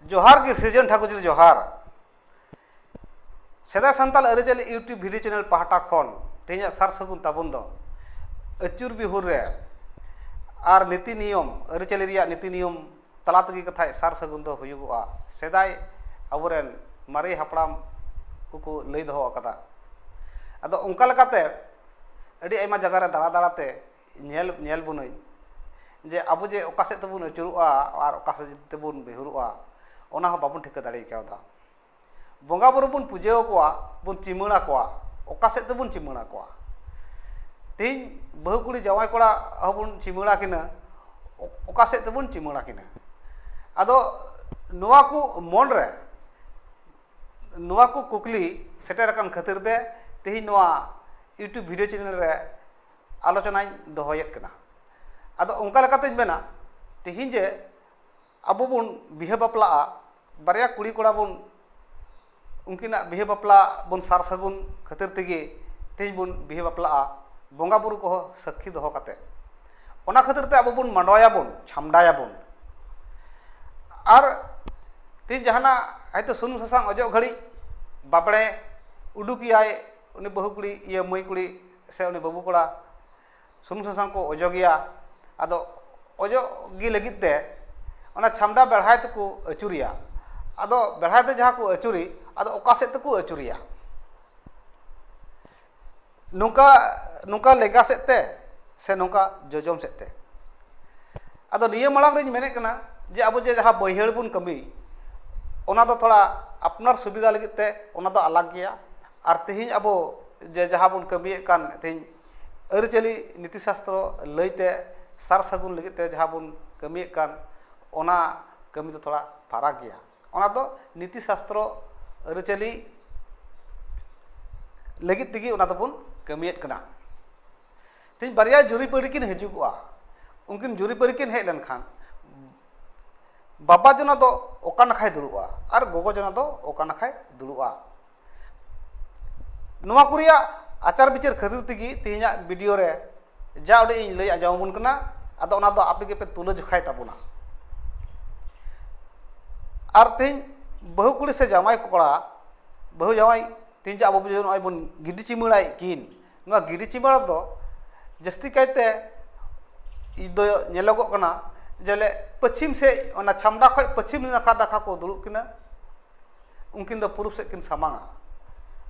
ᱡᱚᱦᱟᱨ ᱜᱮ ᱥᱤᱨᱡᱚᱱ ᱴᱷᱟᱠᱩᱨ ᱡᱤᱞ ᱡᱚᱦᱟᱨ ᱥᱮᱫᱟᱭ ᱥᱟᱱᱛᱟᱲ ᱟᱹᱨᱤᱪᱟᱹᱞᱤ ᱤᱭᱩᱴᱩᱵᱽ ᱵᱷᱤᱰᱤᱭᱳ ᱪᱮᱱᱮᱞ ᱯᱟᱦᱴᱟ ᱠᱷᱚᱱ ᱛᱮᱦᱮᱧᱟᱜ ᱥᱟᱨ ᱥᱟᱹᱜᱩᱱ ᱛᱟᱵᱚᱱ ᱫᱚ ᱟᱹᱪᱩᱨ ᱵᱤᱦᱩᱨ ᱨᱮ ᱟᱨ ᱱᱤᱛᱤ ᱱᱤᱭᱚᱢ ᱟᱹᱨᱤᱪᱟᱹᱞᱤ ᱨᱮᱭᱟᱜ ᱱᱤᱛᱤ ᱱᱤᱭᱚᱢ ᱛᱟᱞᱟ ᱛᱮᱜᱮ ᱠᱟᱛᱷᱟᱡ ᱥᱟᱨ ᱥᱟᱹᱜᱩᱱ ᱫᱚ ᱦᱩᱭᱩᱜᱚᱜᱼᱟ ᱥᱮᱫᱟᱭ ᱟᱵᱚ ᱨᱮᱱ ᱢᱟᱨᱮ ᱦᱟᱯᱲᱟᱢ ᱠᱚᱠᱚ ᱞᱟᱹᱭ ᱫᱚᱦᱚ ᱟᱠᱟᱫᱟ ᱟᱫᱚ ᱚᱱᱠᱟ ᱞᱮᱠᱟᱛᱮ ᱟᱹᱰᱤ ᱟᱭᱢᱟ ᱡᱟᱭᱜᱟ ᱨᱮ ᱫᱟᱬᱟ ᱫᱟᱬᱟ ᱛᱮ ᱧᱮᱞ ᱧᱮᱞ ᱵᱚᱱᱟᱹᱧ ᱡᱮ ᱟᱵᱚ ᱡᱮ ᱚᱠᱟ ᱥᱮᱫ ᱛᱮᱵᱚᱱ ᱟᱹᱪᱩᱨᱚᱜᱼᱟ ᱟᱨ ᱚᱠᱟ ᱥᱮᱫ ᱛᱮᱵᱚᱱ ᱵᱤᱦᱩᱨᱚᱜᱼᱟ ᱚᱱᱟ ᱦᱚᱸ ᱵᱟᱵᱚᱱ ᱴᱷᱤᱠᱟᱹ ᱫᱟᱲᱮ ᱠᱟᱣᱫᱟ ᱵᱚᱸᱜᱟ ᱵᱩᱨᱩ ᱵᱚᱱ ᱯᱩᱡᱟᱹ ᱟᱠᱚᱣᱟ ᱵᱚᱱ ᱪᱤᱢᱟᱹᱲ ᱟᱠᱚᱣᱟ ᱚᱠᱟ ᱥᱮᱫ ᱛᱮᱵᱚᱱ ᱪᱤᱢᱟᱹᱲ ᱟᱠᱚᱣᱟ ᱛᱮᱦᱤᱧ ᱵᱟᱹᱦᱩ ᱠᱩᱲᱤ ᱡᱟᱶᱟᱭ ᱠᱚᱲᱟ ᱦᱚᱸᱵᱚᱱ ᱪᱤᱢᱟᱹᱲ ᱟᱹᱠᱤᱱᱟ ᱚᱠᱟ ᱥᱮᱫ ᱛᱮᱵᱚᱱ ᱪᱤᱢᱟᱹᱲ ᱟᱹᱠᱤᱱᱟ ᱟᱫᱚ ᱱᱚᱣᱟ ᱠᱚ ᱢᱚᱱᱨᱮ ᱱᱚᱣᱟ ᱠᱚ ᱠᱩᱠᱞᱤ ᱥᱮᱴᱮᱨ ᱟᱠᱟᱱ ᱠᱷᱟᱹᱛᱤᱨ ᱛᱮ ᱛᱮᱦᱤᱧ ᱱᱚᱣᱟ ᱤᱭᱩᱴᱩᱵᱽ ᱵᱷᱤᱰᱭᱳ ᱪᱮᱱᱮᱞ ᱨᱮ ᱟᱞᱳᱪᱚᱱᱟᱧ ᱫᱚᱦᱚᱭᱮᱫ ᱠᱟᱱᱟ ᱟᱫᱚ ᱚᱱᱠᱟ ᱞᱮᱠᱟᱛᱤᱧ ᱢᱮᱱᱟ ᱛᱮᱦᱤᱧ ᱡᱮ ᱟᱵᱚ ᱵᱚᱱ ᱵᱤᱦᱟᱹ ᱵᱟᱯᱞᱟᱜᱼᱟ ᱵᱟᱨᱭᱟ ᱠᱩᱲᱤ ᱠᱚᱲᱟ ᱵᱚᱱ ᱩᱱᱠᱤᱱᱟᱜ ᱵᱤᱦᱟᱹ ᱵᱟᱯᱞᱟ ᱵᱚᱱ ᱥᱟᱨ ᱥᱟᱹᱜᱩᱱ ᱠᱷᱟᱹᱛᱤᱨ ᱛᱮᱜᱮ ᱛᱮᱦᱤᱧ ᱵᱚᱱ ᱵᱤᱦᱟᱹ ᱵᱟᱯᱞᱟᱜᱼᱟ ᱵᱚᱸᱜᱟ ᱵᱳᱨᱳ ᱠᱚᱦᱚᱸ ᱥᱟᱹᱠᱠᱷᱤ ᱫᱚᱦᱚ ᱠᱟᱛᱮᱫ ᱚᱱᱟ ᱠᱷᱟᱹᱛᱤᱨ ᱛᱮ ᱟᱵᱚ ᱵᱚᱱ ᱢᱟᱰᱣᱟᱭᱟᱵᱚᱱ ᱪᱷᱟᱢᱰᱟᱭᱟᱵᱚᱱ ᱟᱨ ᱛᱮᱦᱤᱧ ᱡᱟᱦᱟᱱᱟᱜ ᱦᱚᱭᱛᱳ ᱥᱩᱱᱩᱢ ᱥᱟᱥᱟᱝ ᱚᱡᱚᱜ ᱜᱷᱟᱹᱲᱤᱡ ᱵᱟᱸᱵᱽᱲᱮ ᱩᱰᱩᱠᱮᱭᱟᱭ ᱩᱱᱤ ᱵᱟᱹᱦᱩ ᱠᱩᱲᱤ ᱤᱭᱟᱹ ᱢᱟᱹᱭ ᱠᱩᱲᱤ ᱥᱮ ᱩᱱᱤ ᱵᱟᱹᱵᱩ ᱠᱚᱲᱟ ᱥᱩᱱᱩᱢ ᱥᱟᱥᱟᱝ ᱠᱚ ᱚᱡᱚᱜᱮᱭᱟ ᱟᱫᱚ ᱚᱡᱚᱜ ᱜᱮ ᱞᱟᱹᱜᱤᱫ ᱛᱮ ᱚᱱᱟ ᱪᱷᱟᱢᱰᱟ ᱵᱮᱲᱦᱟᱭ ᱛᱮᱠᱚ ᱟᱹᱪᱩᱨᱮᱭᱟ ᱟᱫᱚ ᱵᱮᱲᱦᱟᱭ ᱛᱮ ᱡᱟᱦᱟᱸ ᱠᱚ ᱟᱹᱪᱩᱨᱮ ᱟᱫᱚ ᱚᱠᱟ ᱥᱮᱫ ᱛᱮᱠᱚ ᱟᱹᱪᱩᱨᱮᱭᱟ ᱱᱚᱝᱠᱟ ᱱᱚᱝᱠᱟ ᱞᱮᱸᱜᱟ ᱥᱮᱫ ᱛᱮ ᱥᱮ ᱱᱚᱝᱠᱟ ᱡᱚᱡᱚᱢ ᱥᱮᱫ ᱛᱮ ᱟᱫᱚ ᱱᱤᱭᱟᱹ ᱢᱟᱲᱟᱝ ᱨᱤᱧ ᱢᱮᱱᱮᱫ ᱠᱟᱱᱟ ᱡᱮ ᱟᱵᱚ ᱡᱮ ᱡᱟᱦᱟᱸ ᱵᱟᱹᱭᱦᱟᱹᱲ ᱵᱚᱱ ᱠᱟᱹᱢᱤ ᱚᱱᱟ ᱫᱚ ᱛᱷᱚᱲᱟ ᱟᱯᱱᱟᱨ ᱥᱩᱵᱤᱫᱷᱟ ᱞᱟᱹᱜᱤᱫ ᱛᱮ ᱚᱱᱟ ᱫᱚ ᱟᱞᱟᱜᱽ ᱜᱮᱭᱟ ᱟᱨ ᱛᱮᱦᱤᱧ ᱟᱵᱚ ᱡᱮ ᱡᱟᱦᱟᱸ ᱵᱚᱱ ᱠᱟᱹᱢᱤᱭᱮᱫ ᱠᱟᱱ ᱛᱮᱦᱤᱧ ᱟᱹᱨᱤᱪᱟᱹᱞᱤ ᱱᱤᱛᱤ ᱥᱟᱥᱛᱨᱚ ᱞᱟᱹᱭᱛᱮ ᱥᱟᱨ ᱥᱟᱹᱜᱩᱱ ᱞᱟᱹᱜᱤᱫ ᱛᱮ ᱡᱟᱦᱟᱸ ᱵᱚᱱ ᱠᱟᱹᱢᱤᱭᱮᱫ ᱠᱟᱱ ᱚᱱᱟ ᱠᱟᱹᱢᱤ ᱫᱚ ᱛᱷᱚᱲᱟ ᱯᱷᱟᱨᱟᱠ ᱜᱮᱭᱟ ᱚᱱᱟ ᱫᱚ ᱱᱤᱛᱤ ᱥᱟᱥᱛᱨᱚ ᱟᱹᱨᱤᱪᱟᱹᱞᱤ ᱞᱟᱹᱜᱤᱫ ᱛᱮᱜᱮ ᱚᱱᱟ ᱫᱚᱵᱚᱱ ᱠᱟᱹᱢᱤᱭᱮᱫ ᱠᱟᱱᱟ ᱛᱮᱦᱮᱧ ᱵᱟᱨᱭᱟ ᱡᱩᱨᱤᱯᱟᱹᱨᱤ ᱠᱤᱱ ᱦᱤᱡᱩᱜᱚᱜᱼᱟ ᱩᱱᱠᱤᱱ ᱡᱩᱨᱤᱯᱟᱹᱨᱤ ᱠᱤᱱ ᱦᱮᱡ ᱞᱮᱱᱠᱷᱟᱱ ᱵᱟᱵᱟ ᱡᱚᱱᱟ ᱫᱚ ᱚᱠᱟ ᱱᱟᱠᱷᱟᱭ ᱫᱩᱲᱩᱵᱼᱟ ᱟᱨ ᱜᱚᱜᱚ ᱡᱚᱱᱟ ᱫᱚ ᱚᱠᱟ ᱱᱟᱠᱷᱟᱭ ᱫᱩᱲᱩᱵᱼᱟ ᱱᱚᱣᱟ ᱠᱚ ᱨᱮᱭᱟᱜ ᱟᱪᱟᱨ ᱵᱤᱪᱟᱹᱨ ᱠᱷᱟᱹᱛᱤᱨ ᱛᱮᱜᱮ ᱛᱮᱦᱮᱧᱟᱜ ᱵᱷᱤᱰᱤᱭᱳ ᱨᱮ ᱡᱟ ᱩᱰᱤᱡ ᱤᱧ ᱞᱟᱹᱭ ᱟᱸᱡᱚᱢ ᱟᱵᱚᱱ ᱠᱟᱱᱟ ᱟᱫᱚ ᱚᱱᱟ ᱫᱚ ᱟᱯᱮ ᱜᱮᱯᱮ ᱛᱩᱞᱟᱹ ᱡᱚᱠᱷᱟᱭ ᱛᱟᱵᱚᱱᱟ ᱟᱨ ᱛᱮᱦᱮᱧ ᱵᱟᱹᱦᱩ ᱠᱩᱲᱤ ᱥᱮ ᱡᱟᱶᱟᱭ ᱠᱚᱲᱟ ᱵᱟᱹᱦᱩ ᱡᱟᱶᱟᱭ ᱛᱮᱦᱮᱧ ᱡᱮ ᱟᱵᱚ ᱱᱚᱜᱼᱚᱭ ᱵᱚᱱ ᱜᱤᱰᱤ ᱪᱤᱢᱟᱹᱲᱟᱭᱮᱫ ᱠᱤᱱ ᱱᱚᱣᱟ ᱜᱤᱰᱤ ᱪᱤᱢᱵᱟᱲᱟ ᱫᱚ ᱡᱟᱹᱥᱛᱤ ᱠᱟᱭᱛᱮ ᱫᱚ ᱧᱮᱞᱚᱜᱚᱜ ᱠᱟᱱᱟ ᱡᱮᱞᱮ ᱯᱚᱪᱷᱤᱢ ᱥᱮᱫ ᱚᱱᱟ ᱪᱷᱟᱢᱰᱟ ᱠᱷᱚᱱ ᱯᱚᱪᱷᱤᱢ ᱱᱟᱠᱷᱟ ᱱᱟᱠᱷᱟ ᱠᱚ ᱫᱩᱲᱩᱵ ᱠᱤᱱᱟ ᱩᱱᱠᱤᱱ ᱫᱚ ᱯᱩᱨᱩᱵ ᱥᱮᱫ ᱠᱤᱱ ᱥᱟᱢᱟᱝᱼᱟ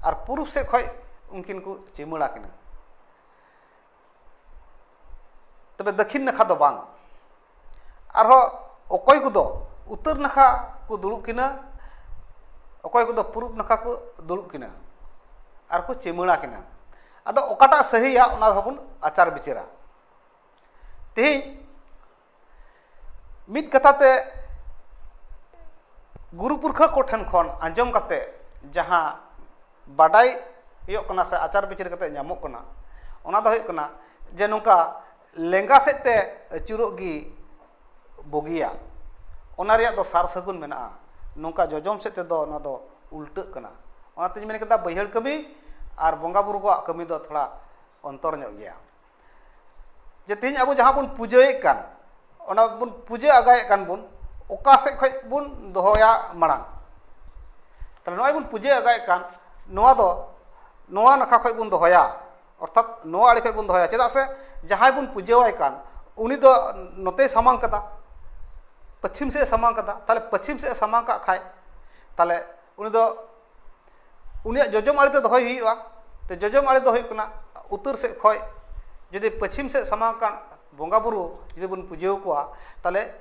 ᱟᱨ ᱯᱩᱨᱩᱵ ᱥᱮᱫ ᱠᱷᱚᱱ ᱩᱱᱠᱤᱱ ᱠᱚ ᱪᱤᱢᱟᱹᱲᱟ ᱠᱤᱱᱟ ᱛᱚᱵᱮ ᱫᱚᱠᱠᱷᱤᱱ ᱱᱟᱠᱷᱟ ᱫᱚ ᱵᱟᱝ ᱟᱨᱦᱚᱸ ᱚᱠᱚᱭ ᱠᱚᱫᱚ ᱩᱛᱛᱚᱨ ᱱᱟᱠᱷᱟ ᱠᱚ ᱫᱩᱲᱩᱵ ᱠᱤᱱᱟᱹ ᱚᱠᱚᱭ ᱠᱚᱫᱚ ᱯᱩᱨᱩᱵ ᱱᱟᱠᱷᱟ ᱠᱚ ᱫᱩᱲᱩᱵ ᱠᱤᱱᱟᱹ ᱟᱨ ᱠᱚ ᱪᱩᱢᱟᱹᱲᱟ ᱠᱤᱱᱟᱹ ᱟᱫᱚ ᱚᱠᱟᱴᱟᱜ ᱥᱟᱹᱦᱤᱭᱟ ᱚᱱᱟ ᱫᱚᱵᱚᱱ ᱟᱪᱟᱨ ᱵᱤᱪᱟᱹᱨᱟ ᱛᱮᱦᱮᱧ ᱢᱤᱫ ᱠᱟᱛᱷᱟ ᱛᱮ ᱜᱩᱨᱩ ᱯᱩᱨᱠᱷᱟᱹ ᱠᱚᱴᱷᱮᱱ ᱠᱷᱚᱱ ᱟᱸᱡᱚᱢ ᱠᱟᱛᱮ ᱡᱟᱦᱟᱸ ᱵᱟᱰᱟᱭ ᱦᱩᱭᱩᱜ ᱠᱟᱱᱟ ᱥᱮ ᱟᱪᱟᱨ ᱵᱤᱪᱟᱹᱨ ᱠᱟᱛᱮ ᱧᱟᱢᱚᱜ ᱠᱟᱱᱟ ᱚᱱᱟ ᱫᱚ ᱦᱩᱭᱩᱜ ᱠᱟᱱᱟ ᱡᱮ ᱱᱚᱝᱠᱟ ᱞᱮᱸᱜᱟ ᱥᱮᱫ ᱛᱮ ᱟᱹᱪᱩᱨᱚᱜ ᱜᱮ ᱵᱩᱜᱤᱭᱟ ᱚᱱᱟ ᱨᱮᱭᱟᱜ ᱫᱚ ᱥᱟᱨ ᱥᱟᱹᱜᱩᱱ ᱢᱮᱱᱟᱜᱼᱟ ᱱᱚᱝᱠᱟ ᱡᱚᱡᱚᱢ ᱥᱮᱫ ᱛᱮᱫᱚ ᱚᱱᱟ ᱫᱚ ᱩᱞᱴᱟᱹᱜ ᱠᱟᱱᱟ ᱚᱱᱟᱛᱤᱧ ᱢᱮᱱ ᱠᱮᱫᱟ ᱵᱟᱹᱭᱦᱟᱹᱲ ᱠᱟᱹᱢᱤ ᱟᱨ ᱵᱚᱸᱜᱟ ᱵᱳᱨᱳ ᱠᱚᱣᱟᱜ ᱠᱟᱹᱢᱤ ᱫᱚ ᱛᱷᱚᱲᱟ ᱚᱱᱛᱚᱨ ᱧᱚᱜ ᱜᱮᱭᱟ ᱡᱮ ᱛᱮᱦᱤᱧ ᱟᱵᱚ ᱡᱟᱦᱟᱸ ᱵᱚᱱ ᱯᱩᱡᱟᱹᱭᱮᱜ ᱠᱟᱱ ᱚᱱᱟ ᱵᱚᱱ ᱯᱩᱡᱟᱹ ᱟᱸᱜᱟᱭᱮᱜ ᱠᱟᱱ ᱵᱚᱱ ᱚᱠᱟ ᱥᱮᱫ ᱠᱷᱚᱱ ᱵᱚᱱ ᱫᱚᱦᱚᱭᱟ ᱢᱟᱲᱟᱝ ᱛᱟᱦᱚᱞᱮ ᱱᱚᱜᱼᱚᱭ ᱵᱚᱱ ᱯᱩᱡᱟᱹ ᱟᱸᱜᱟᱭᱮᱜ ᱠᱟᱱ ᱱᱚᱣᱟ ᱫᱚ ᱱᱚᱣᱟ ᱱᱟᱠᱷᱟ ᱠᱷᱚᱱ ᱵᱚᱱ ᱫᱚᱦᱚᱭᱟ ᱚᱨᱛᱷᱟᱛ ᱱᱚᱣᱟ ᱟᱲᱮ ᱠᱷᱚᱱ ᱵᱚᱱ ᱫᱚᱦᱚᱭᱟ ᱪᱮᱫᱟᱜ ᱥᱮ ᱡᱟᱦᱟᱸᱭ ᱵᱚᱱ ᱯᱩᱡᱟᱹᱣᱟᱭ ᱠᱟᱱ ᱩᱱᱤ ᱫᱚ ᱱᱚᱛᱮᱭ ᱥᱟᱢᱟᱝ ᱠᱟᱫᱟ ᱯᱚᱪᱷᱤᱢ ᱥᱮᱫ ᱮ ᱥᱟᱢᱟᱝ ᱠᱟᱫᱟ ᱛᱟᱦᱚᱞᱮ ᱯᱚᱪᱷᱤᱢ ᱥᱮᱫ ᱮ ᱥᱟᱢᱟᱝ ᱠᱟᱜ ᱠᱷᱟᱡ ᱛᱟᱦᱚᱞᱮ ᱩᱱᱤ ᱫᱚ ᱩᱱᱤᱭᱟᱜ ᱡᱚᱡᱚᱢ ᱟᱲᱮᱛᱮ ᱫᱚᱦᱚᱭ ᱦᱩᱭᱩᱜᱼᱟ ᱡᱚᱡᱚᱢ ᱟᱲᱮ ᱫᱚ ᱦᱩᱭᱩᱜ ᱠᱟᱱᱟ ᱩᱛᱛᱚᱨ ᱥᱮᱫ ᱠᱷᱚᱡ ᱡᱩᱫᱤ ᱯᱚᱪᱷᱤᱢ ᱥᱮᱫ ᱥᱟᱢᱟᱝ ᱠᱟᱱ ᱵᱚᱸᱜᱟ ᱵᱳᱨᱳ ᱡᱩᱫᱤ ᱵᱚᱱ ᱯᱩᱡᱟᱹ ᱟᱠᱚᱣᱟ ᱛᱟᱦᱚᱞᱮ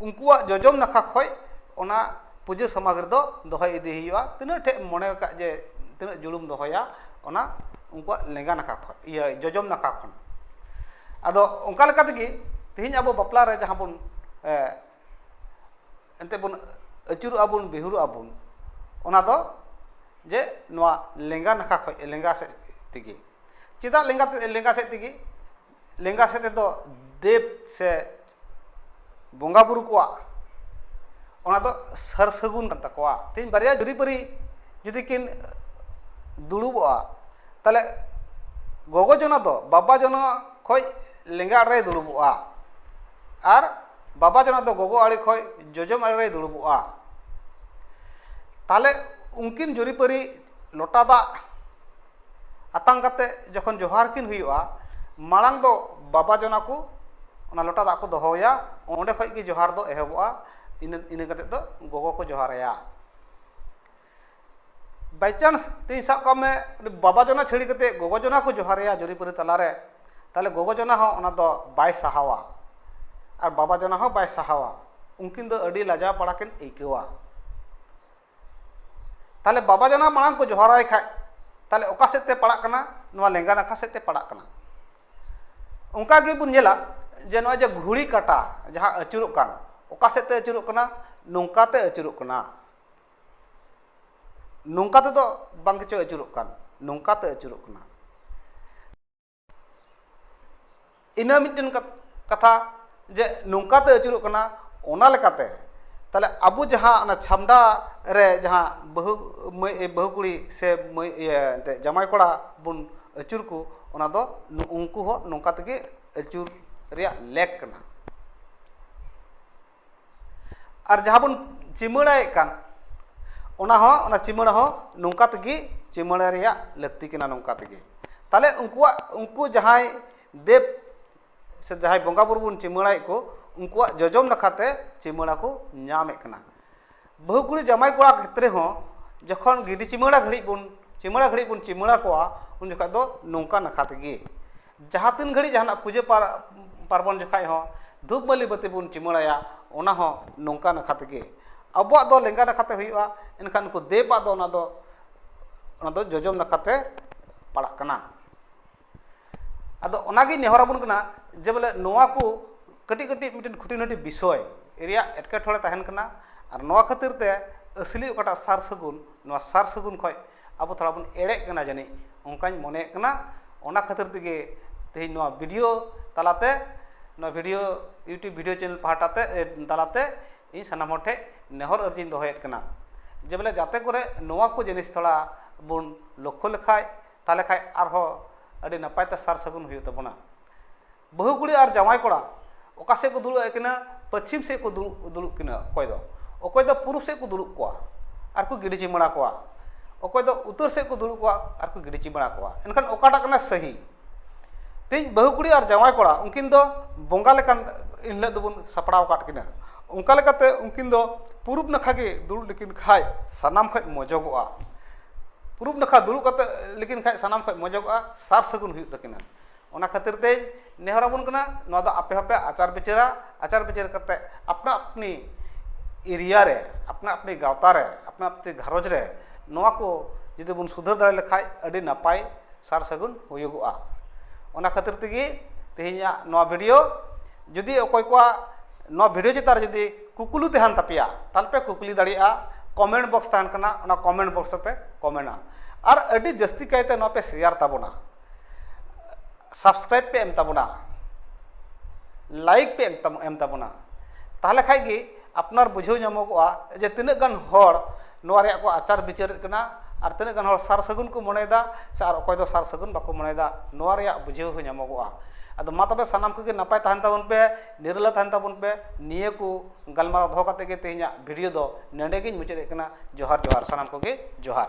ᱩᱱᱠᱩᱣᱟᱜ ᱡᱚᱡᱚᱢ ᱱᱟᱠᱷᱟ ᱠᱷᱚᱡ ᱚᱱᱟ ᱯᱩᱡᱟᱹ ᱥᱟᱢᱟᱜᱨᱤ ᱫᱚ ᱫᱚᱦᱚ ᱤᱫᱤ ᱦᱩᱭᱩᱜᱼᱟ ᱛᱤᱱᱟᱹᱜ ᱴᱷᱮᱡ ᱮᱢ ᱢᱚᱱᱮ ᱟᱠᱟᱫ ᱡᱮ ᱛᱤᱱᱟᱹᱜ ᱡᱩᱲᱩᱢ ᱫᱚᱦᱚᱭᱟ ᱚᱱᱟ ᱩᱱᱠᱩᱣᱟᱜ ᱞᱮᱸᱜᱟ ᱱᱟᱠᱷᱟ ᱠᱷᱚᱡ ᱤᱭᱟᱹ ᱡᱚᱡᱚᱢ ᱱᱟᱠᱷᱟ ᱠᱷᱚᱱ ᱟᱫᱚ ᱚᱱᱠᱟ ᱞᱮᱠᱟ ᱛᱮᱜᱮ ᱛᱮᱦᱤᱧ ᱟᱵᱚ ᱵᱟᱯᱞᱟ ᱨᱮ ᱡᱟᱦᱟᱸ ᱵᱚᱱ ᱮᱱᱛᱮᱜ ᱵᱚᱱ ᱟᱹᱪᱩᱨᱚᱜᱼᱟ ᱵᱚᱱ ᱵᱤᱦᱩᱨᱚᱜᱼᱟ ᱵᱚᱱ ᱚᱱᱟ ᱫᱚ ᱡᱮ ᱱᱚᱣᱟ ᱞᱮᱸᱜᱟ ᱱᱟᱠᱷᱟ ᱠᱷᱚᱡ ᱞᱮᱸᱜᱟ ᱥᱮᱡ ᱛᱮᱜᱮ ᱪᱮᱫᱟᱜ ᱞᱮᱸᱜᱟ ᱥᱮᱡ ᱛᱮᱜᱮ ᱞᱮᱸᱜᱟ ᱥᱮᱫ ᱛᱮᱫᱚ ᱫᱮᱵᱽ ᱥᱮ ᱵᱚᱸᱜᱟ ᱵᱳᱨᱳ ᱠᱚᱣᱟᱜ ᱚᱱᱟ ᱫᱚ ᱥᱟᱨ ᱥᱟᱹᱜᱩᱱ ᱠᱟᱱ ᱛᱟᱠᱚᱣᱟ ᱛᱮᱦᱤᱧ ᱵᱟᱨᱭᱟ ᱡᱩᱨᱤᱯᱟᱹᱨᱤ ᱡᱩᱫᱤ ᱠᱤᱱ ᱫᱩᱲᱩᱵᱚᱜᱼᱟ ᱛᱟᱦᱚᱞᱮ ᱜᱚᱜᱚ ᱡᱚᱱᱟ ᱫᱚ ᱵᱟᱵᱟ ᱡᱚᱱᱟ ᱠᱷᱚᱱ ᱞᱮᱸᱜᱟ ᱟᱲᱮᱨᱮ ᱫᱩᱲᱩᱵᱚᱜᱼᱟ ᱟᱨ ᱵᱟᱵᱟ ᱡᱚᱱᱟ ᱫᱚ ᱜᱚᱜᱚ ᱟᱲᱮ ᱠᱷᱚᱱ ᱡᱚᱡᱚᱢ ᱟᱲᱮᱨᱮ ᱫᱩᱲᱩᱵᱚᱜᱼᱟ ᱛᱟᱦᱚᱞᱮ ᱩᱱᱠᱤᱱ ᱡᱩᱨᱤᱯᱟᱹᱨᱤ ᱞᱚᱴᱟ ᱫᱟᱜ ᱟᱛᱟᱝ ᱠᱟᱛᱮᱫ ᱡᱚᱠᱷᱚᱱ ᱡᱚᱦᱟᱨ ᱠᱤᱱ ᱦᱩᱭᱩᱜᱼᱟ ᱢᱟᱲᱟᱝ ᱫᱚ ᱵᱟᱵᱟ ᱡᱚᱱᱟ ᱠᱚ ᱚᱱᱟ ᱞᱚᱴᱟ ᱫᱟᱜ ᱠᱚ ᱫᱚᱦᱚᱣᱟᱭᱟ ᱚᱸᱰᱮ ᱠᱷᱚᱱ ᱜᱮ ᱡᱚᱦᱟᱨ ᱫᱚ ᱮᱦᱚᱵᱚᱜᱼᱟ ᱤᱱᱟᱹ ᱤᱱᱟᱹ ᱠᱟᱛᱮᱫ ᱫᱚ ᱜᱚᱜᱚ ᱠᱚ ᱡᱚᱦᱟᱨ ᱟᱭᱟ ᱵᱟᱭᱪᱟᱱᱥ ᱛᱮᱦᱤᱧ ᱥᱟᱵ ᱠᱟᱜ ᱢᱮ ᱵᱟᱵᱟ ᱡᱚᱱᱟ ᱪᱷᱟᱹᱲᱤ ᱠᱟᱛᱮᱫ ᱜᱚᱜᱚ ᱡᱚᱱᱟ ᱠᱚ ᱡᱚᱦᱟᱨ ᱟᱭᱟ ᱡᱩᱨᱤᱼᱯᱟᱹᱨᱤ ᱛᱟᱞᱟᱨᱮ ᱛᱟᱦᱚᱞᱮ ᱜᱚᱜᱚ ᱡᱚᱱᱟ ᱦᱚᱸ ᱚᱱᱟ ᱫᱚ ᱵᱟᱭ ᱥᱟᱦᱟᱣᱟ ᱟᱨ ᱵᱟᱵᱟ ᱡᱚᱱᱟ ᱦᱚᱸ ᱵᱟᱭ ᱥᱟᱦᱟᱣᱟ ᱩᱱᱠᱤᱱ ᱫᱚ ᱟᱹᱰᱤ ᱞᱟᱡᱟᱣ ᱯᱟᱲᱟ ᱠᱤᱱ ᱟᱹᱭᱠᱟᱹᱣᱟ ᱛᱟᱦᱚᱞᱮ ᱵᱟᱵᱟ ᱡᱟᱱᱟᱢ ᱟᱲᱟᱝ ᱠᱚ ᱡᱚᱦᱟᱨᱟᱭ ᱠᱷᱟᱡ ᱛᱟᱦᱚᱞᱮ ᱚᱠᱟ ᱥᱮᱫ ᱛᱮ ᱯᱟᱲᱟᱜ ᱠᱟᱱᱟ ᱱᱚᱣᱟ ᱞᱮᱸᱜᱟ ᱱᱟᱠᱷᱟ ᱥᱮᱫ ᱛᱮ ᱯᱟᱲᱟᱜ ᱠᱟᱱᱟ ᱚᱱᱠᱟ ᱜᱮᱵᱚᱱ ᱧᱮᱞᱟ ᱡᱮ ᱱᱚᱜᱼᱚᱭ ᱡᱮ ᱜᱷᱩᱲᱤ ᱠᱟᱴᱟ ᱡᱟᱦᱟᱸ ᱟᱹᱪᱩᱨᱚᱜ ᱠᱟᱱ ᱚᱠᱟ ᱥᱮᱫ ᱛᱮ ᱟᱹᱪᱩᱨᱚᱜ ᱠᱟᱱᱟ ᱱᱚᱝᱠᱟ ᱛᱮ ᱟᱹᱪᱩᱨᱚᱜ ᱠᱟᱱᱟ ᱱᱚᱝᱠᱟ ᱛᱮᱫᱚ ᱵᱟᱝ ᱜᱮᱪᱚ ᱟᱹᱪᱩᱨᱚᱜ ᱠᱟᱱ ᱱᱚᱝᱠᱟ ᱛᱮ ᱟᱹᱪᱩᱨᱚᱜ ᱠᱟᱱᱟ ᱤᱱᱟᱹ ᱢᱤᱫᱴᱮᱱ ᱠᱟᱛᱷᱟ ᱡᱮ ᱱᱚᱝᱠᱟᱛᱮ ᱟᱹᱪᱩᱨᱚᱜ ᱠᱟᱱᱟ ᱚᱱᱟ ᱞᱮᱠᱟᱛᱮ ᱛᱟᱦᱚᱞᱮ ᱟᱵᱚ ᱡᱟᱦᱟᱸ ᱚᱱᱟ ᱪᱷᱟᱢᱰᱟ ᱨᱮ ᱡᱟᱦᱟᱸ ᱵᱟᱹᱦᱩ ᱢᱟᱹᱭ ᱵᱟᱹᱦᱩ ᱠᱩᱲᱤ ᱥᱮ ᱢᱟᱹᱭ ᱤᱭᱟᱹ ᱮᱱᱛᱮᱫ ᱡᱟᱶᱟᱭ ᱠᱚᱲᱟ ᱵᱚᱱ ᱟᱹᱪᱩᱨ ᱠᱚ ᱚᱱᱟ ᱫᱚ ᱩᱱᱠᱩ ᱦᱚᱸ ᱱᱚᱝᱠᱟ ᱛᱮᱜᱮ ᱟᱹᱪᱩᱨ ᱨᱮᱭᱟᱜ ᱞᱮᱠ ᱠᱟᱱᱟ ᱟᱨ ᱡᱟᱦᱟᱸ ᱵᱚᱱ ᱪᱤᱢᱟᱹᱲᱟᱭᱮᱫ ᱠᱟᱱ ᱚᱱᱟ ᱦᱚᱸ ᱚᱱᱟ ᱪᱤᱢᱟᱹᱲᱟ ᱦᱚᱸ ᱱᱚᱝᱠᱟ ᱛᱮᱜᱮ ᱪᱤᱢᱟᱹᱲᱟ ᱨᱮᱭᱟᱜ ᱞᱟᱹᱠᱛᱤ ᱠᱟᱱᱟ ᱱᱚᱝᱠᱟ ᱛᱮᱜᱮ ᱛᱟᱦᱚᱞᱮ ᱩᱱᱠᱩᱣᱟᱜ ᱩᱱᱠᱩ ᱡᱟᱦᱟᱸᱭ ᱫᱮᱵ ᱥᱮ ᱡᱟᱦᱟᱸᱭ ᱵᱚᱸᱜᱟᱼᱵᱩᱨᱩ ᱵᱚᱱ ᱪᱤᱢᱟᱹᱲᱟᱭᱮᱫ ᱠᱚ ᱩᱱᱠᱩᱣᱟᱜ ᱡᱚᱡᱚᱢ ᱱᱟᱠᱷᱟᱛᱮ ᱪᱤᱢᱟᱹᱲᱟ ᱠᱚ ᱧᱟᱢᱮᱫ ᱠᱟᱱᱟ ᱵᱟᱹᱦᱩ ᱠᱩᱲᱤ ᱡᱟᱢᱟᱭ ᱠᱚᱲᱟ ᱠᱷᱮᱛᱨᱮ ᱦᱚᱸ ᱡᱚᱠᱷᱚᱱ ᱜᱤᱰᱤ ᱪᱤᱢᱟᱹᱲᱟ ᱜᱷᱟᱹᱲᱤᱡ ᱵᱚᱱ ᱪᱤᱢᱟᱹᱲᱟ ᱜᱷᱟᱹᱲᱤᱡ ᱵᱚᱱ ᱪᱤᱢᱟᱹᱲᱟ ᱠᱚᱣᱟ ᱩᱱ ᱡᱚᱠᱷᱚᱡ ᱫᱚ ᱱᱚᱝᱠᱟ ᱱᱟᱠᱷᱟ ᱛᱮᱜᱮ ᱡᱟᱦᱟᱸ ᱛᱤᱱ ᱜᱷᱟᱹᱲᱤᱡ ᱡᱟᱦᱟᱱᱟᱜ ᱯᱩᱡᱟᱹ ᱯᱟᱨᱵᱚᱱ ᱡᱚᱠᱷᱚᱡ ᱦᱚᱸ ᱫᱷᱩᱯ ᱵᱟᱹᱞᱤ ᱵᱟᱹᱛᱤ ᱵᱚᱱ ᱪᱤᱢᱟᱹᱲᱟᱭᱟ ᱚᱱᱟ ᱦᱚᱸ ᱱᱚᱝᱠᱟ ᱱᱟᱠᱷᱟ ᱛᱮᱜᱮ ᱟᱵᱚᱣᱟᱜ ᱫᱚ ᱞᱮᱸᱜᱟ ᱱᱟᱠᱷᱟ ᱛᱮ ᱦᱩᱭᱩᱜᱼᱟ ᱮᱱᱠᱷᱟᱱ ᱩᱱᱠᱩ ᱫᱮᱵᱽ ᱟᱜ ᱫᱚ ᱚᱱᱟ ᱫᱚ ᱚᱱᱟ ᱫᱚ ᱡᱚᱡᱚᱢ ᱱᱟᱠᱷᱟᱛᱮ ᱯᱟᱲᱟᱜ ᱠᱟᱱᱟ ᱟᱫᱚ ᱚᱱᱟᱜᱮ ᱱᱮᱦᱚᱨ ᱟᱵᱚᱱ ᱠᱟᱱᱟ ᱡᱮ ᱵᱚᱞᱮ ᱱᱚᱣᱟ ᱠᱚ ᱠᱟᱹᱴᱤᱡ ᱠᱟᱹᱴᱤᱡ ᱢᱤᱫᱴᱮᱱ ᱠᱷᱩᱴᱤ ᱱᱟᱹᱴᱤ ᱵᱤᱥᱚᱭ ᱨᱮᱭᱟᱜ ᱮᱴᱠᱮᱴᱚᱬᱮ ᱛᱟᱦᱮᱱ ᱠᱟᱱᱟ ᱟᱨ ᱱᱚᱣᱟ ᱠᱷᱟᱹᱛᱤᱨ ᱛᱮ ᱟᱹᱥᱞᱤ ᱚᱠᱟᱴᱟᱜ ᱥᱟᱨ ᱥᱟᱹᱜᱩᱱ ᱱᱚᱣᱟ ᱥᱟᱨ ᱥᱟᱹᱜᱩᱱ ᱠᱷᱚᱡ ᱟᱵᱚ ᱛᱷᱚᱲᱟ ᱵᱚᱱ ᱮᱲᱮᱜ ᱠᱟᱱᱟ ᱡᱟᱹᱱᱤᱡ ᱚᱱᱠᱟᱧ ᱢᱚᱱᱮᱭᱮᱜ ᱠᱟᱱᱟ ᱚᱱᱟ ᱠᱷᱟᱹᱛᱤᱨ ᱛᱮᱜᱮ ᱛᱮᱦᱮᱧ ᱱᱚᱣᱟ ᱵᱷᱤᱰᱤᱭᱳ ᱛᱟᱞᱟᱛᱮ ᱱᱚᱣᱟ ᱵᱷᱤᱰᱤᱭᱳ ᱤᱭᱩᱴᱩᱵᱽ ᱵᱷᱤᱰᱤᱭᱳ ᱪᱮᱱᱮᱞ ᱯᱟᱦᱴᱟ ᱛᱮ ᱛᱟᱞᱟᱛᱮ ᱤᱧ ᱥᱟᱱᱟᱢ ᱦᱚᱲ ᱴᱷᱮᱡ ᱱᱮᱦᱚᱨ ᱟᱹᱨᱡᱤᱧ ᱫᱚᱦᱚᱭᱮᱜ ᱠᱟᱱᱟ ᱡᱮ ᱵᱚᱞᱮ ᱡᱟᱛᱮ ᱠᱚᱨᱮ ᱱᱚᱣᱟ ᱠᱚ ᱡᱤᱱᱤᱥ ᱛᱷᱚᱲᱟ ᱵᱚᱱ ᱞᱚᱠᱠᱷᱚ ᱞᱮᱠᱷᱟᱡ ᱛᱟᱦᱚᱞᱮ ᱠᱷᱟᱱ ᱟᱨᱦᱚᱸ ᱟᱹᱰᱤ ᱱᱟᱯᱟᱭ ᱛᱮ ᱥᱟᱨ ᱥᱟᱹᱜᱩᱱ ᱦᱩᱭᱩᱜ ᱛᱟᱵᱚᱱᱟ ᱵᱟᱹᱦᱩ ᱠᱩᱲᱤ ᱟᱨ ᱡᱟᱶᱟᱭ ᱠᱚᱲᱟ ᱚᱠᱟ ᱥᱮᱫ ᱠᱚ ᱫᱩᱲᱩᱵ ᱟᱹᱠᱤᱱᱟ ᱯᱟᱹᱪᱷᱤᱢ ᱥᱮᱫ ᱠᱚ ᱫᱩᱲᱩᱵ ᱠᱤᱱᱟ ᱚᱠᱚᱭ ᱫᱚ ᱚᱠᱚᱭ ᱫᱚ ᱯᱩᱨᱩᱵ ᱥᱮᱫ ᱠᱚ ᱫᱩᱲᱩᱵ ᱠᱚᱣᱟ ᱟᱨ ᱠᱚ ᱜᱤᱰᱤ ᱪᱩᱢᱟᱹᱲᱟ ᱠᱚᱣᱟ ᱚᱠᱚᱭ ᱫᱚ ᱩᱛᱟᱹᱨ ᱥᱮᱫ ᱠᱚ ᱫᱩᱲᱩᱵ ᱠᱚᱣᱟ ᱟᱨ ᱠᱚ ᱜᱤᱰᱤ ᱪᱩᱢᱟᱹᱲᱟ ᱠᱚᱣᱟ ᱮᱱᱠᱷᱟᱱ ᱚᱠᱟᱴᱟᱜ ᱠᱟᱱᱟ ᱥᱟᱹᱦᱤ ᱛᱮᱦᱮᱧ ᱵᱟᱹᱦᱩ ᱠᱩᱲᱤ ᱟᱨ ᱡᱟᱶᱟᱭ ᱠᱚᱲᱟ ᱩᱱᱠᱤᱱ ᱫᱚ ᱵᱚᱸᱜᱟ ᱞᱮᱠᱟᱱ ᱮᱱ ᱦᱤᱞᱳᱜ ᱫᱚᱵᱚᱱ ᱥᱟᱯᱲᱟᱣ ᱟᱠᱟᱫ ᱠᱤᱱᱟ ᱚᱱᱠᱟ ᱞᱮᱠᱟᱛᱮ ᱩᱱᱠᱤᱱ ᱫᱚ ᱯᱩᱨᱩᱵ ᱱᱟᱠᱷᱟ ᱜᱮ ᱫᱩᱲᱩᱵ ᱞᱮᱠᱤᱱ ᱠᱷᱟᱱ ᱥᱟᱱᱟᱢ ᱠᱷᱚᱱ ᱢᱚᱡᱚᱜᱚᱜᱼᱟ ᱯᱩᱨᱩᱵ ᱱᱟᱠᱷᱟ ᱫᱩᱲᱩᱵ ᱠᱟᱛᱮ ᱞᱮᱠᱤᱱ ᱠᱷᱟᱡ ᱥᱟᱱᱟᱢ ᱠᱷᱚᱡ ᱢᱚᱡᱚᱜᱚᱜᱼᱟ ᱥᱟᱨ ᱥᱟᱹᱜᱩᱱ ᱦᱩᱭᱩᱜ ᱛᱟᱹᱠᱤᱱᱟ ᱚᱱᱟ ᱠᱷᱟᱹᱛᱤᱨ ᱛᱮ ᱱᱮᱦᱚᱨ ᱟᱵᱚᱱ ᱠᱟᱱᱟ ᱱᱚᱣᱟ ᱫᱚ ᱟᱯᱮ ᱦᱚᱸᱯᱮ ᱟᱪᱟᱨ ᱵᱤᱪᱟᱹᱨᱟ ᱟᱪᱟᱨ ᱵᱤᱪᱟᱹᱨ ᱠᱟᱛᱮ ᱟᱯᱱᱟ ᱟᱹᱯᱱᱤ ᱮᱨᱤᱭᱟ ᱨᱮ ᱟᱯᱱᱟ ᱟᱹᱯᱱᱤ ᱜᱟᱶᱛᱟ ᱨᱮ ᱟᱯᱱᱟ ᱟᱹᱯᱱᱤ ᱜᱷᱟᱨᱚᱸᱡᱽ ᱨᱮ ᱱᱚᱣᱟ ᱠᱚ ᱡᱩᱫᱤ ᱵᱚᱱ ᱥᱩᱫᱷᱟᱹᱨ ᱫᱟᱲᱮ ᱞᱮᱠᱷᱟᱡ ᱟᱹᱰᱤ ᱱᱟᱯᱟᱭ ᱥᱟᱨ ᱥᱟᱹᱜᱩᱱ ᱦᱩᱭᱩᱜᱚᱜᱼᱟ ᱚᱱᱟ ᱠᱷᱟᱹᱛᱤᱨ ᱛᱮᱜᱮ ᱛᱮᱦᱮᱧᱟᱜ ᱱᱚᱣᱟ ᱵᱷᱤᱰᱤᱭᱳ ᱡᱩᱫᱤ ᱚᱠᱚᱭ ᱠᱚᱣᱟᱜ ᱱᱚᱣᱟ ᱵᱷᱤᱰᱤᱭᱳ ᱪᱮᱛᱟᱱ ᱨᱮ ᱡᱩᱫᱤ ᱠᱩᱠᱞᱤ ᱛᱟᱦᱮᱱ ᱛᱟᱯᱮᱭᱟ ᱛᱟᱦᱚᱞᱮ ᱯᱮ ᱠᱩᱠᱞᱤ ᱫᱟᱲᱮᱭᱟᱜᱼᱟ ᱠᱚᱢᱮᱱᱴ ᱵᱚᱠᱥ ᱛᱟᱦᱮᱱ ᱠᱟᱱᱟ ᱚᱱᱟ ᱠᱚᱢᱮᱱᱴ ᱵᱚᱠᱥ ᱨᱮᱯᱮ ᱠᱚᱢᱮᱱᱴᱟ ᱟᱨ ᱟᱹᱰᱤ ᱡᱟᱹᱥᱛᱤ ᱠᱟᱭᱛᱮ ᱱᱚᱣᱟ ᱯᱮ ᱥᱮᱭᱟᱨ ᱛᱟᱵᱚᱱᱟ ᱥᱟᱵᱥᱠᱨᱟᱭᱤᱵ ᱯᱮ ᱮᱢ ᱛᱟᱵᱚᱱᱟ ᱞᱟᱭᱤᱠ ᱯᱮ ᱮᱢ ᱛᱟᱵᱚᱱᱟ ᱛᱟᱦᱚᱞᱮ ᱠᱷᱟᱡ ᱜᱮ ᱟᱯᱱᱟᱨ ᱵᱩᱡᱷᱟᱹᱣ ᱧᱟᱢᱚᱜᱚᱜᱼᱟ ᱡᱮ ᱛᱤᱱᱟᱹᱜ ᱜᱟᱱ ᱦᱚᱲ ᱱᱚᱣᱟ ᱨᱮᱭᱟᱜ ᱠᱚ ᱟᱪᱟᱨ ᱵᱤᱪᱟᱹᱨᱮᱫ ᱠᱟᱱᱟ ᱟᱨ ᱛᱤᱱᱟᱹᱜ ᱜᱟᱱ ᱦᱚᱲ ᱥᱟᱨ ᱥᱟᱹᱜᱩᱱ ᱠᱚ ᱢᱚᱱᱮᱭᱮᱫᱟ ᱥᱮ ᱟᱨ ᱚᱠᱚᱭ ᱫᱚ ᱥᱟᱨ ᱥᱟᱹᱜᱩᱱ ᱵᱟᱠᱚ ᱢᱚᱱᱮᱭᱮᱫᱟ ᱱᱚᱣᱟ ᱨᱮᱭᱟᱜ ᱵᱩᱡᱷᱟᱹᱣ ᱦᱚᱸ ᱧᱟᱢᱚᱜᱚᱜᱼᱟ ᱟᱫᱚ ᱢᱟ ᱛᱚᱵᱮ ᱥᱟᱱᱟᱢ ᱠᱚᱜᱮ ᱱᱟᱯᱟᱭ ᱛᱟᱦᱮᱱ ᱛᱟᱵᱚᱱ ᱯᱮ ᱱᱤᱨᱞᱟᱹ ᱛᱟᱦᱮᱱ ᱛᱟᱵᱚᱱ ᱯᱮ ᱱᱤᱭᱟᱹ ᱠᱚ ᱜᱟᱞᱢᱟᱨᱟᱣ ᱫᱚᱦᱚ ᱠᱟᱛᱮᱫ ᱜᱮ ᱛᱮᱦᱮᱧᱟᱜ ᱵᱷᱤᱰᱤᱭᱳ ᱫᱚ ᱱᱚᱰᱮ ᱜᱤᱧ ᱢᱩᱪᱟᱹᱫᱮᱫ ᱠᱟᱱᱟ ᱡᱚᱦᱟᱨ ᱡᱚᱦᱟᱨ ᱥᱟᱱᱟᱢ ᱠᱚᱜᱮ ᱡᱚᱦᱟᱨ